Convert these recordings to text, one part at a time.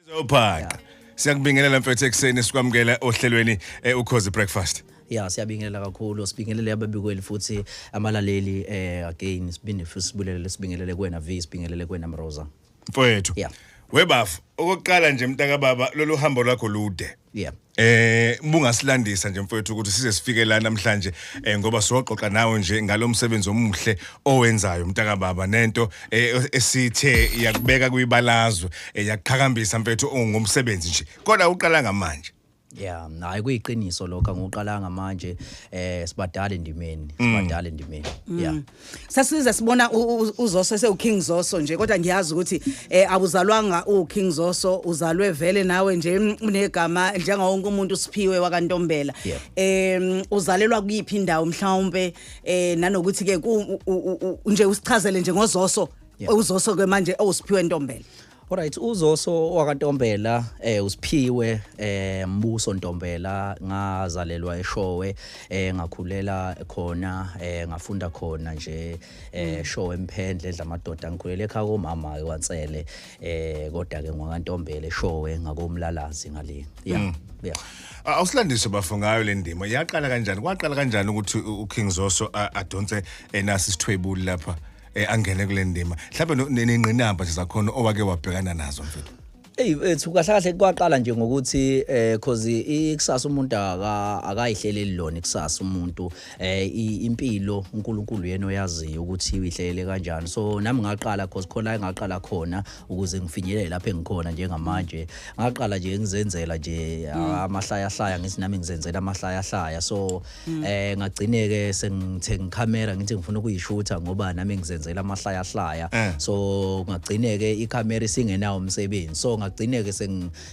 Zobhaqa. Siyakubingelela mfethu ekseni sikwamukela ohlelweni eh, ukhozi breakfast. ya siyabingelela kakhulu sibingelele ababikweli futhi amalaleli eh again siphinde futhi sibulele sibingelele kuwena V sibingelele kuwena Mroza Mfowethu. Yeah. Webafo, okokuqala nje mntaka baba lolu hambo lwakho lude. yeah Eh bungasilandisa nje mfowethu ukuthi size sifike la namhlanje eh ngoba siyoxoxa nawe nje ngalomsebenzi omuhle owenzayo mntaka baba nento eh, esithe yakubeka kuyibalazwe eh, yakuqhakambisa mfowethu ongumsebenzi nje kodwa uqala ngamanje Yeah, hayi kuyiqiniso lokho angiqalanga manje eh sibadala endimeni, mm. sibadala endimeni. Yeah. Mm. sasize sibona uzoso sewuking zoso nje kodwa ngiyazi ukuthi eh awuzalwanga uking zoso uzalwe vele nawe nje mm, unegama njengawo wonke umuntu usiphiwe wakantombela em uzalelwa kuyiphi indawo mhlawumbe eh nanokuthi ke nje usichazele nje ngozoso uzoso ke manje owusiphiwe ntombela Alright uzoso wakaNtombela eh usiphiwe eh Mbuso Ntombela ngazalelwa eShowe eh ngakhulela khona eh ngafunda khona nje eh mm. Showe emphendle edla amadoda ngikhulele ekhaya komama kwaNsele eh kodwa ke ngwakaNtombela eShowe ngakomlalazi ngale yeah mm. yeah awusilandise bafo ngayo le ndima yaqala kanjani kwaqala kanjani ukuthi uKing Zoso adonse enasi eh, sithwebuli lapha eh, angene kule ndima mhlawumbe no- ne- nengqinamba nje zakhona owake wabhekana nazo mfethu Ey ethu kahle kahle kwaqala nje ngokuthi eh cause ikusasa umuntu aka akayihleleli lona ikusasa umuntu eh i- impilo uNkulunkulu yena oyaziyo ukuthi uyihlelele kanjani so nami ngaqala cause khona la ngaqala khona ukuze ngifinyelele lapha engikhona njengamanje ngaqala nje ngizenzela nje amahlaya hlaya ngithi nami ngizenzela amahlaya hlaya so mm. eh ngagcine ke sengithe ngicamera ngithi ngifuna ukuyishutha ngoba nami ngizenzela amahlaya hlaya eh. so ngagcine ke icamera isingenawo umsebenzi so ngagcine ke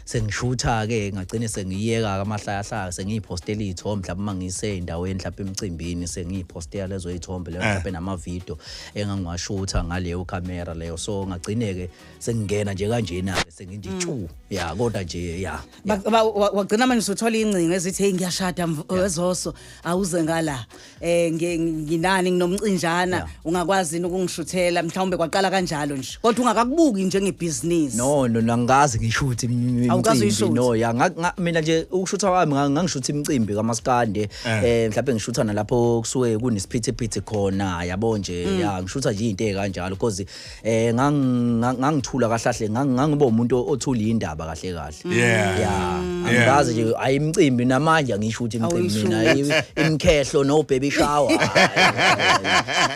sengishutha ke ngagcine sengiyeka amahlaya hlaya sengiyipostela izithombe mhlawumbe mangise endaweni mhlawumbe emcimbini sengiyipostela lezo izithombe leyo eh. mhlawumbe nama video engangiwashutha ngaleyo camera leyo so ngagcine ke sengingena nje kanjena ke senginditshu mm. ya kodwa nje ya Ba- ba- wa- wagcina manje usuthola ingcingo ezithi hey ngiyashada mv- wezoso awuze ngala eh ngi- nginani nginomcinjana Yeah. ungakwazi yini ukungishuthela mhlawumbe kwaqala kanjalo nje kodwa ungakakubuki njengebhizinisi no no nangikaze ngishuthi im- im- Awukaze imicimbi uyishuthi? no ya nga- nga- mina nje ukushutha kwami nga- ngangishutha imicimbi kamaskande eh mhlawumbe ngishutha nalapho kusuke kunesiphithiphithi khona yabo nje ya ngishutha nje into ekanjalo because eh ngangithula kahlahle ngangiba umuntu othula indaba kahle kahle yeah yeah angikaze nje ayimcimbi namanje angisho ukuthi imcimbi mina imkhehlo no baby shower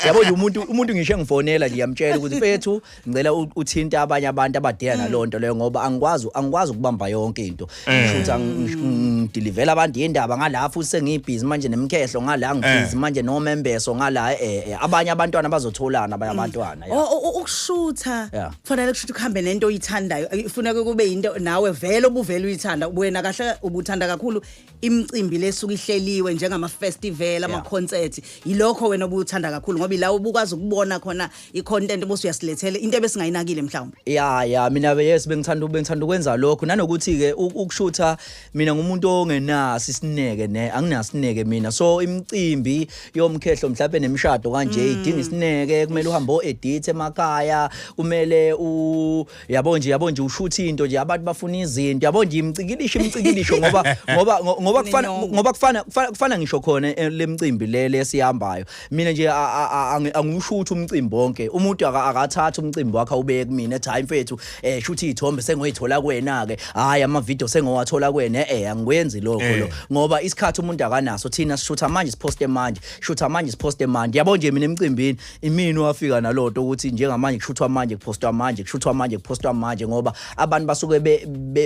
yabo nje umuntu umuntu ngisho engifonela nje yamtshela ukuthi mfethu ngicela uthinta abanye abantu abadela nalonto leyo ngoba angikwazi angikwazi ukubamba yonke into Eh. Futhi angidilivela abantu yendaba ngala futhi sengibhizi manje nemkhehlo ngala ngibhizi eh. manje nomembeso ngala eh, eh abanye abantwana bazotholana abanye mm. abantwana ukushutha kufanele kushutha ukuhambe nento oyithandayo ifuneka kube into nawe vele obuvela uyithanda wena kahle ubuthanda kakhulu imicimbi lesuku ihleliwe njengama festival ama concert yilokho wena obuthanda kakhulu ngoba ila ubukwazi ukubona khona i-content bosi uyasilethela into ebesingayinakile mhlawumbe ya ya mina yes bengithanda bengithanda ukwenza lokho nanokuthi ke ukushutha mina ngumuntu ongenasi isineke ne anginasineke mina so imicimbi yomkhehlo mhlawumbe nemishado kanje mm. idinga isineke kumele uhambe o edit emakhaya kumele u yabo nje yabo nje ushutha into nje abantu bafuna izinto yabo nje imcikilisho imcikilisho ngoba ngoba ngoba kufana ngoba kufana kufana ngisho khona eh, lemcimbi le lesihambayo mina nje angiwushutha umcimbi wonke umuntu akathatha umcimbi wakhe ubeke kumina ethi hayi mfethu eh shuthi ithombe sengoyithola kwena ke hayi ama video sengowathola kwena eh angikwenzi lokho lo eh. ngoba isikhathi umuntu akanaso thina sishutha manje siposte manje shutha manje siposte manje yabo nje mina emcimbini imini wafika naloto ukuthi njengamanje kushuthwa manje kuphostwa manje kushuthwa manje kuphostwa manje ngoba abantu basuke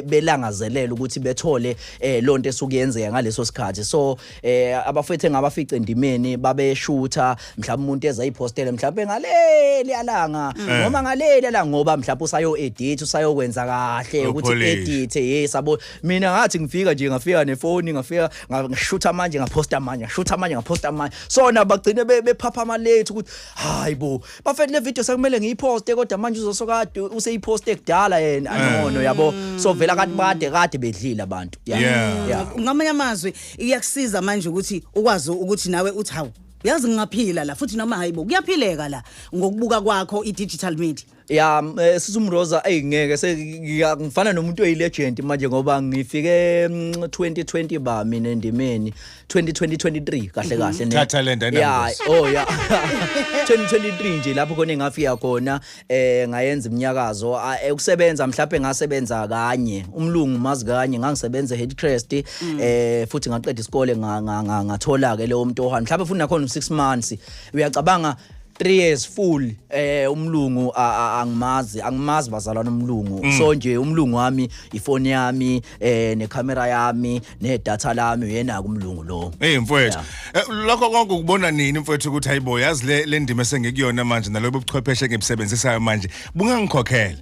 belangazelela ukuthi bethole eh lonto esuke yenzeka ngaleso sikhathi so eh abafethu engabafice endimeni babeshutha mhlawumbe umuntu eza iphostele mhlawumbe ngaleli alanga mm. noma ngaleli alanga ngoba mhlawumbe usayo edit usayokwenza kahle ukuthi edit hey sabo mina ngathi ngifika nje ngafika nefoni ngafika ngashutha manje ngaphosta manje ngashutha manje ngaphosta manje sona bagcine bephapha ama late ukuthi hayi bo bafethu le video sekumele ngiyiposte kodwa manje uzosokade useyiposte kudala yena eh. anono yabo mm. so vela kanti bade kade bedlile abantu yeah ngamanye amazwi iyakusiza manje ukuthi ukwazi ukuthi nawe uthi hawu yazi ngingaphila la futhi noma hayibo kuyaphileka la ngokubuka kwakho i-digital media ya eh, sisi umroza eyi ngeke sengifana nomuntu oyilegend manje ngoba ngifike 2020 mm, ba mina endimeni 2023 kahle mhm. kahle thatha le ndana ya oh ya 2023 nje lapho khona engafika khona eh ngayenza iminyakazo ah, eh, ukusebenza mhlawumbe ngasebenza kanye umlungu mazi kanye ngangisebenza headcrest mm. eh futhi ngaqeda isikole ngathola ke leyo mntu ohani mhlawumbe futhi nakhona 6 months uyacabanga 3 years full eh umlungu angimazi angimazi bazalwana umlungu mm. so nje umlungu wami ifoni yami eh necamera yami nedata lami uyena kumlungu lo hey mfowethu eh, lokho konke ukubona nini mfowethu ukuthi hayibo yazi le ndima esengikuyona manje nalobo buchwepheshe ngibusebenzisayo manje bungangikhokhela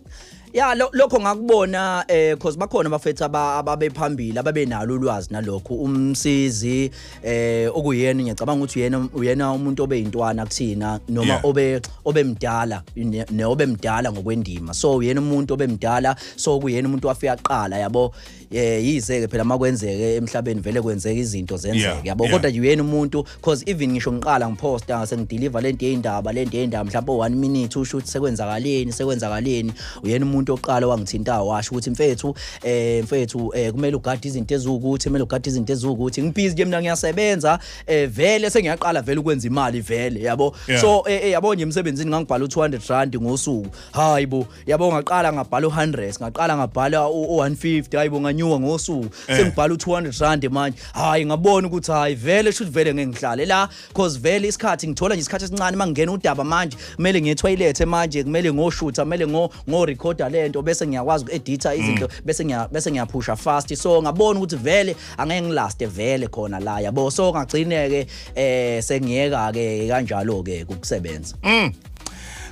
ya lo- lokho ngakubona eh cause bakhona abafethu aba- ababephambili ababenalo ulwazi nalokho umsizi eh okuyena ngiyacabanga ukuthi uyena uyena umuntu obeyintwana kuthina noma Yeah. obe obemdala ne- ne obemdala ngokwendima so uyena umuntu obemdala so kuyena umuntu wafika kuqala yabo eh yize ke phela makwenzeke emhlabeni vele kwenzeka izinto zenzeke yabo kodwa yena umuntu cause even ngisho ngiqala ngiposta ngase ngideliver lento yendaba lento yendaba mhlawumbe 1 minute usho ukuthi sekwenzakaleni sekwenzakaleni uyena umuntu oqala wangithinta washo ukuthi mfethu eh mfethu eh kumele ugade izinto ezukuthi kumele ugade izinto ezukuthi ngibhizi ke mina ngiyasebenza eh vele sengiyaqala vele ukwenza imali vele yabo so eh, eh yabo nje emsebenzini ngangibhala u200 rand ngosuku hayibo yabo ngaqala ngabhala u100 ngaqala ngabhala u150 hayibo nganyuka ngosuku eh. sengibhala u200 rand manje hayi ngabona ukuthi hayi vele should vele ngeke ngihlale la cause vele isikhathi ngithola nje isikhathi esincane mangena udaba manje kumele ngiye toilet manje kumele ngoshutha kumele ngo ngo recorder lento bese ngiyakwazi ukuedita mm. izinto bese ngiya bese ngiyaphusha fast so ngabona ukuthi vele angeke ngilaste vele khona la yabo so ngagcineke eh sengiyeka ke kanjalo ke ukusebenza mm.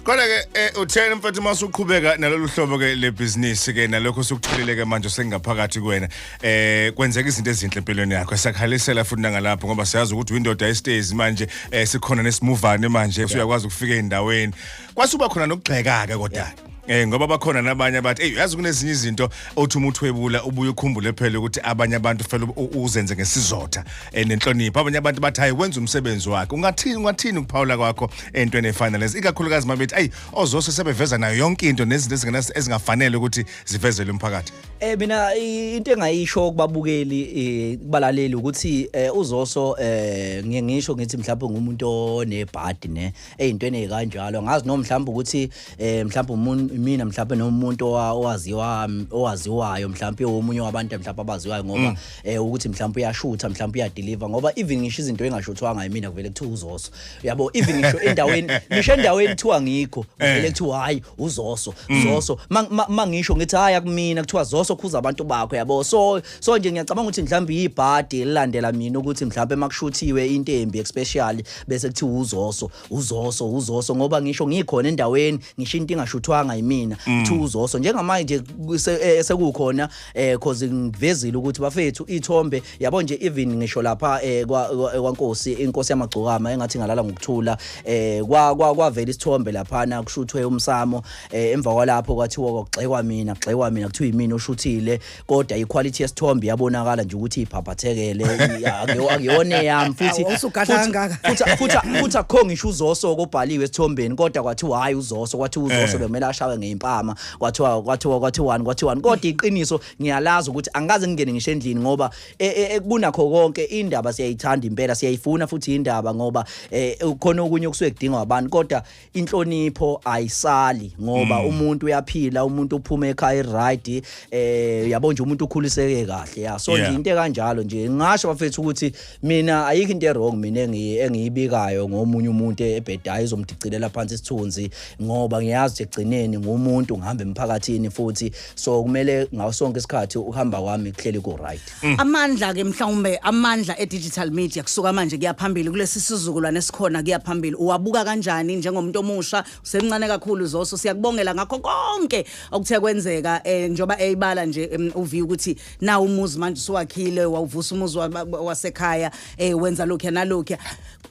Kodwa ke eh, uthena mfethu uma usuqhubeka nalolu hlobo ke lebhizinisi ke nalokho usukutholile ke manje sengaphakathi kuwena eh kwenzeka izinto ezinhle empilweni yakho esakhalisela futhi nangalapho ngoba siyazi ukuthi windoda istays manje eh sikhona nesimuvane manje usuyakwazi ukufika endaweni kwasuba khona nokugxeka ke kodwa Eh ngoba bakhona nabanye abathi hey yazi kunezinye izinto othi umuntu webula ubuye ukhumbule phela ukuthi abanye abantu fela u- uzenze ngesizotha eh, nenhlonipho abanye abantu bathi hayi wenza umsebenzi wakhe ungathini ungathini ukuphawula kwakho entweni efana lezi ikakhulukazi mabethi ayi ozose sebeveza nayo yonke into nezinto ezingenas ezingafanele ukuthi zivezele umphakathi eh mina i- into engayisho kubabukeli eh, kubalaleli ukuthi eh, uzoso eh, ngiye ngisho ngithi mhlawumbe ngumuntu onebhadi ne eyintweni ezikanjalo ngazi noma mhlawumbe ukuthi eh mhlawumbe umuntu mina mhlawumbe nomuntu owaziwa owaziwayo mhlawumbe omunye wabantu mhlawumbe abaziwayo ngoba mm. eh ukuthi mhlawumbe uyashutha mhlawumbe uyadeliver ngoba even ngisho izinto engashuthwanga yimina kuvele kuthiwa uzoso yabo even ngisho endaweni ngisho endaweni kuthiwa ngikho kuvele eh. kuthiwa hayi uzoso mm. zoso mangisho ngithi hayi akumina kuthiwa zoso khuza abantu bakho yabo so so nje ngiyacabanga ukuthi mhlawumbe yibhadi elilandela mina ukuthi mhlawumbe makushuthiwe intembi especially bese kuthiwa uzoso uzoso uzoso ngoba ngisho ngikhona endaweni ngisho into ingashuthwanga yimina mm. two uzoso njengamanje eh, sekukhona eh cause ngivezile ukuthi bafethu ithombe yabo nje even ngisho lapha eh, kwankosi inkosi yamagcokama engathi ngalala ngokuthula eh kwa kwavela isithombe lapha na kushuthwe umsamo eh, emva kwalapho kwathiwa kwagxekwa mina gxekwa mina kuthiwa yimina oshuthile kodwa iquality yesithombe yabonakala nje ukuthi iphaphathekele akuyona eyami futhi futhi akho ngisho uzoso kobhaliwe esithombeni kodwa kwathiwa hayi uzoso kwathiwa uzoso eh. bekumele ashawe ngeimpama kwathiwa kwathiwa kwathiwani kwathiwani kodwa iqiniso ngiyalazi ukuthi angikaze ngingene ngisho endlini ngoba e, e, e, kunakho konke indaba siyayithanda impela siyayifuna futhi indaba ngoba ukhona okunye okusuke kudingwa abantu kodwa inhlonipho ayisali ngoba mm. umuntu uyaphila umuntu uphuma ekhaya right eh yabo nje umuntu ukhuliseke kahle ya so nje into kanjalo nje ngasho bafethu ukuthi mina ayikho into wrong mina engiyibikayo ngomunye umuntu ebhedayo izomdicilela phansi isithunzi ngoba ngiyazi ukuthi egcineni ngumuntu ngihamba emphakathini futhi so kumele ngaso sonke isikhathi ukuhamba kwami kuhleli ku right Mm. amandla ke mhlawumbe amandla e-digital media kusuka manje kuya phambili kulesi sizukulwane esikhona kuya phambili uwabuka kanjani njengomuntu omusha usemncane kakhulu zoso siyakubongela ngakho konke okuthe kwenzeka um njengoba eyibala nje um, uvi ukuthi nawo umuzi manje usuwakhile wawuvusa umuzi wa- wa- wasekhaya um wenza lokhuya nalokhuya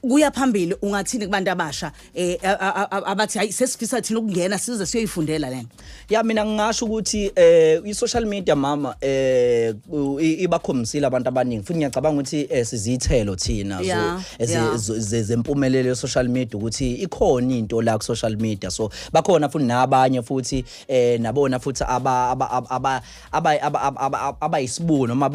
kuya phambili ungathini kubantu abasha eh a- a- a- abathi hayi sesifisa thina ukungena size siyoyifundela lena ya mina ngingasho ukuthi eh i-social media mama eh u- i- ibakhombisile abantu abaningi futhi ngiyacabanga ukuthi eh, siziyithelo thina zo- Yeah, ezi- yeah. zo- ze- zempumelelo ye-social media ukuthi ikhona into la ku-social media so bakhona futhi nabanye futhi eh nabona futhi aba- aba- aba- aba- abayisibuko noma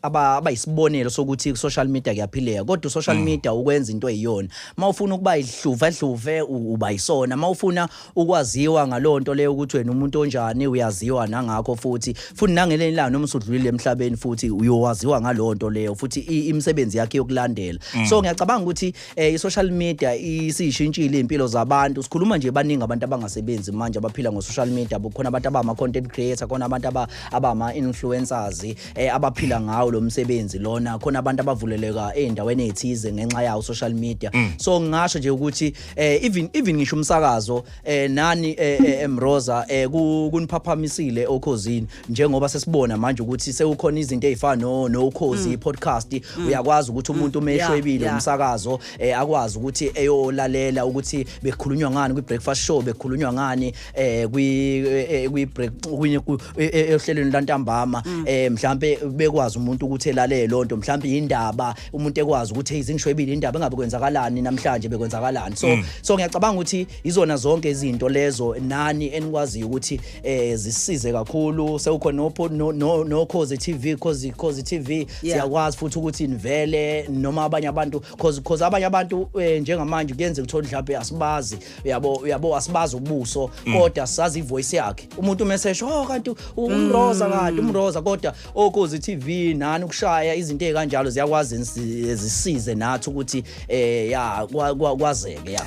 abayisibonelo sokuthi ku-social media kuyaphileka kodwa u-social mm. media ukwenza into eyiyona uma ufuna ukuba ihluve hluve uba yisona uma ufuna ukwaziwa ngaleyo nto leyo ukuthi wena umuntu onjani uyaziwa nangakho futhi futhi nangelenye ilanga noma usudlulile emhlabeni futhi uyowaziwa ngaleyo nto leyo futhi imisebenzi yakhe yokulandela mm. so ngiyacabanga ukuthi eh i-social media isishintshile impilo zabantu sikhuluma nje baningi abantu abangasebenzi manje abaphila ngo-social media bukhona abantu abama-content creator khona abantu abama-influencers eh abaphila ngawo lo msebenzi lona khona abantu abavuleleka ey'ndaweni ey'thize ngenxa yawo social media mm. so ngingasho nje ukuthi eh even even ngisho umsakazo eh nani eh, eh emroza eh kuniphaphamisile okhozini njengoba sesibona manje ukuthi sekukhona izinto ezifana no no ukhozi mm. podcast mm. uyakwazi ukuthi umuntu mm. umeshwebile umsakazo eh, akwazi ukuthi eyolalela ukuthi bekhulunywa ngani kwi breakfast show bekhulunywa ngani eh kwi eh, eh, kwi break eh, ehlelweni lantambama eh mhlambe bekwazi umuntu ukuthi elalele lonto mhlambe indaba umuntu ekwazi ukuthi izingishwebile indaba engabe kwenzakalani namhlanje bekwenzakalani so so ngiyacabanga ukuthi izona zonke izinto lezo nani enikwaziyo ukuthi eh zisize kakhulu sewukhona nopho no no, no cause TV cause cause TV yeah. siyakwazi futhi ukuthi nivele noma abanye abantu cause cause abanye abantu eh, njengamanje kuyenze kuthola mhlawumbe asibazi uyabo uyabo asibazi ubuso mm. kodwa sazi ivoice yakhe umuntu umesesho oh kanti umroza mm. kanti umroza kodwa okuzi oh, TV nani ukushaya izinto ezikanjalo ziyakwazi zisize nathi ukuthi eh ya kwazeke ya